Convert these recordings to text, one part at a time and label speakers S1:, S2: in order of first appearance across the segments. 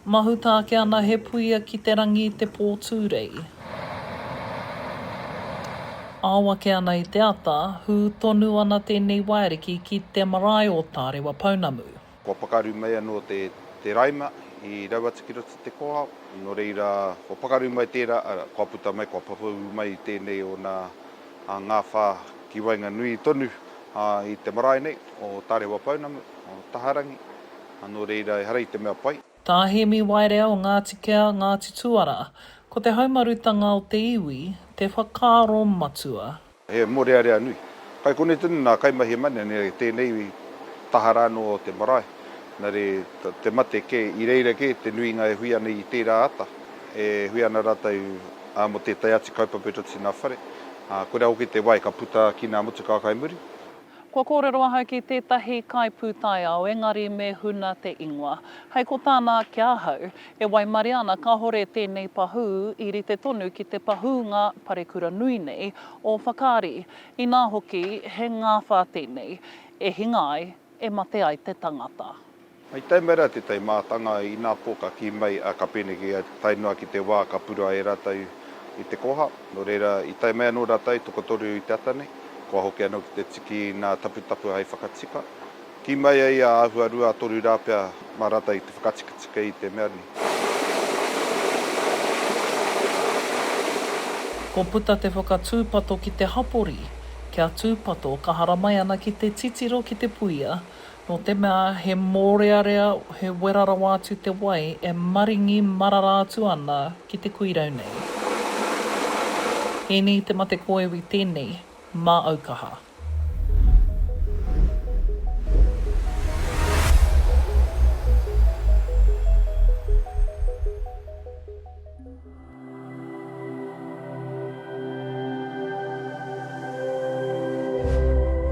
S1: Mahuta ake ana he puia ki te rangi i te pō tūrei. Ao ake ana i te ata, hū tonu ana tēnei waeriki ki te marae o Tārewa Pounamu. Kua pakaru mai
S2: anō te raima i rau atu ki roto i te kōhao, nō reira kua pakaru mai tērā, arā, kua puta mai, kua papū mai tēnei ōna. ngā whā ki waenganui tonu i te marae nei o Tarewa Pounamu, o Taharangi, nō reira ehara i te mea pai. Tā Hēmi Waerea
S1: o Ngāti Kea, Ngāti Tuara, ko te haumarutanga o te iwi te whakaaro matua. He mōrearea
S2: nui. Kai konei tonu nā kaimahi e mane nei i tēnei taha rā anō o te marae, nā reira te mate kē, i reira kē te nuinga e hui ana i tērā ata, e hui ana rātou, ā, mō tētahi atu kaupapa i roto i ngā whare, ā, koirā hoki te wai ka puta ki ngā motu kaka i muri. Kua kōrero
S1: ahau ki tētahi kaipūtaiao engari me huna te ingoa. Hei ko tāna ki ahau, e waimaria ana kāore tēnei pahū i rite tonu ki te pahūnga parekura nui nei o Whakaari, inā hoki he ngāwhā tēnei, e hinga ai, e mate ai te tangata. I tae mai rā
S2: te tai mātanga, inā pōkaki mai a Kapeneke tae noa ki te wā ka purā e rātou i te koha. Nō reira, i tae mai anō rātou, tokotoru i te ata nei, kua hoki anō ki te tiki nā Taputapu hai whakatika. Kī mai ai a āhua rua a toru rā pea mā rātou i te whakatikatika i te mea nei.
S1: Ko puta te whakatūpato ki te hapori, kia tūpato ka haramai ana ki te titiro ki te puia, Nō te mea he mōrearea, he wera rawa atu te wai e maringi marara atu ana ki te kuirau nei. Ēnei te mate kōiwi tēnei mā Aukaha.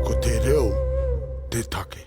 S3: Ko te reo te take.